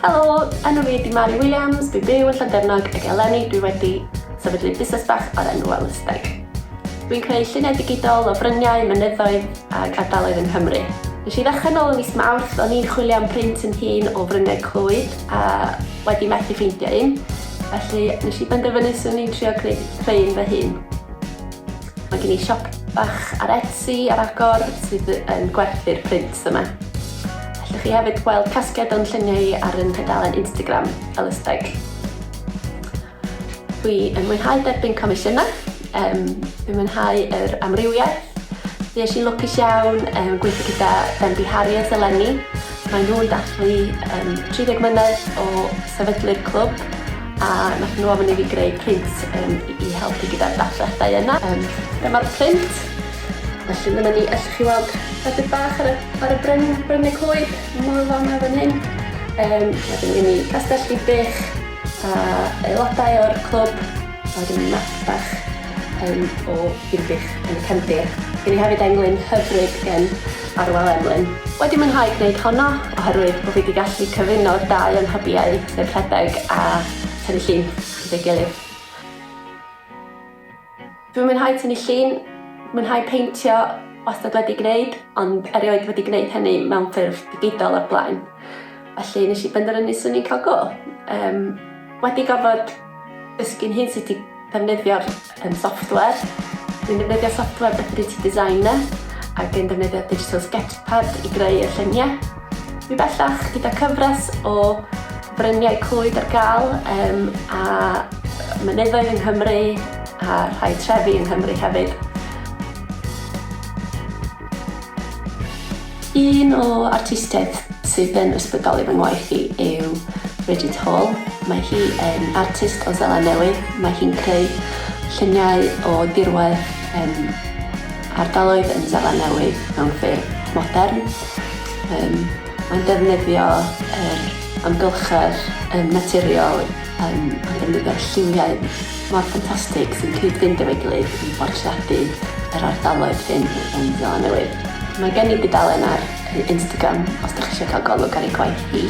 Helo, enw fi ydi Mari Williams, dwi byw yn Llandefnog ac eleni dwi wedi sefydlu busnes bach o'r enw Welysteg. Dwi'n creu lluniau digidol o fryniau, mynyddoedd ac ardaloedd yng Nghymru. Nes i ddechrau nôl yn mis Mawrth, o'n i'n chwilio am print yn hun o fryniau Clwyd a wedi methu ffeindio un, felly nes i benderfynu swn i'n trio creu, creu un fy hun. Mae gen i siop bach ar Etsy ar agor sydd yn gwerthu'r prints yma. Allwch chi hefyd weld casgliad o'n lluniau ar yn tudalen Instagram, Elysteg. Dwi yn mwynhau derbyn comisiynau, um, dwi'n mwynhau yr amrywiaeth. Dwi eisiau lwcus iawn um, gweithio gyda Bendy Harriet eleni. Mae nhw'n dathlu um, 30 mlynedd o sefydlu'r clwb A nath nhw ofyn i fi greu print um, i helpu gyda'r datblygiadau yna. Um, Dyma'r print. Felly dyma ni, allwch chi weld rhedeg bach ar y, ar y bryn, bryn y coed, mwy fel yma fan hyn. Um, wedyn gen i castell i bych a aelodau o'r clwb, a wedyn i map bach um, o Irbych yn y cefndir. Gen i hefyd englyn hyfryd gen Arwel Emlyn. Wedi mwynhau gwneud honno, oherwydd bod fi wedi gallu cyfuno'r dau o'n hybiau Nid rhedeg a tynnu llun gyda'i gilydd. Dwi'n mwynhau tynnu llun, mwynhau peintio, wastad wedi gwneud, ond erioed wedi gwneud hynny mewn ffurf digidol o'r blaen. Felly nes i benderfynu 'swn i'n cael go. Yym wedi gorfod Dysgu nhw sut i ddefnyddio'r um, software. Dwi'n defnyddio software Deputy Designer ac yn defnyddio Digital Sketchpad i greu y lluniau. Mi bellach gyda cyfres o bryniau clwyd ar gael um, a mynyddoedd yng Nghymru a rhai trefi yng Nghymru hefyd. Un o artistiaid sydd yn ysbrydoli fy ngwaith i yw Bridget Hall. Mae hi yn artist o Seland Newydd. Mae hi'n creu lluniau o dirwedd um, ardaloedd yn Seland Newydd mewn ffurf modern. Um, mae'n defnyddio yr amgylchedd um, naturiol um, a defnyddio'r lliwiau mor ffantastig sy'n cyd-fynd efo'i gilydd i bortreadu yr ardaloedd hyn yn Seland Newydd. Mae gen i dudalen ar Instagram os da chi eisiau cael golwg ar ei gwaith hi.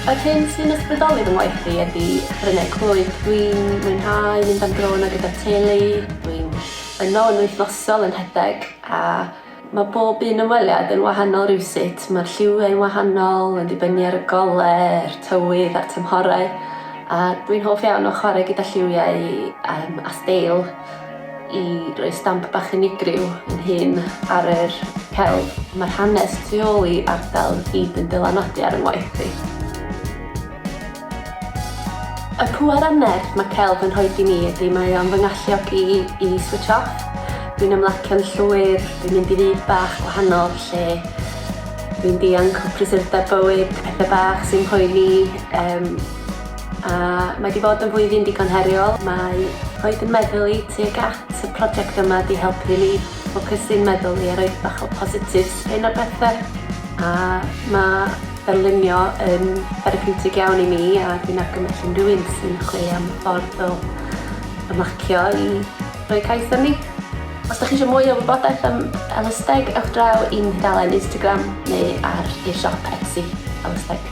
Yr hyn sy'n ysbrydoli fy ngwaith i ydy brynau clwyf. Dwi'n mwynhau mynd am dro yna gyda'r teulu, dwi'n yno yn wythnosol yn rhedeg a Mae pob un ymweliad yn wahanol rywsut, mae'r lliwiau'n wahanol yn dibynnu ar y goler, tywydd a'r tymhorau, a dwi'n hoff iawn o chwarae gyda lliwiau um, a steil i roi stamp bach unigryw yn hun ar yr celf. Mae'r hanes tu ôl i ardal i gyd yn dylanwadu ar yng ngwaith i. Y pŵer a'r nerth mae celf yn rhoi i mi ydy mae o'n fy ngalluogi i i switch off. Dwi'n ymlacio'n llwyr, dwi'n mynd i fyd bach gwahanol lle dwi'n dianc o prysurdeb bywyd, pethe bach sy'n poeni um, a mae wedi bod yn flwyddyn digon heriol. Mae rhoi yn meddwl i tuag at y prosiect yma di helpu ni ffocysu'n meddwl i a roed bach o positif spin ar bethau a mae Darlunio yn therapiwtig iawn i mi a dwi'n argymell unrhyw un sy'n chwilio am ffordd o ymlacio i roi cais arni. Os da chi eisiau mwy o wybodaeth am Elysteg, ewch draw i'n hydalen Instagram neu ar ei siop Etsy, Elysteg.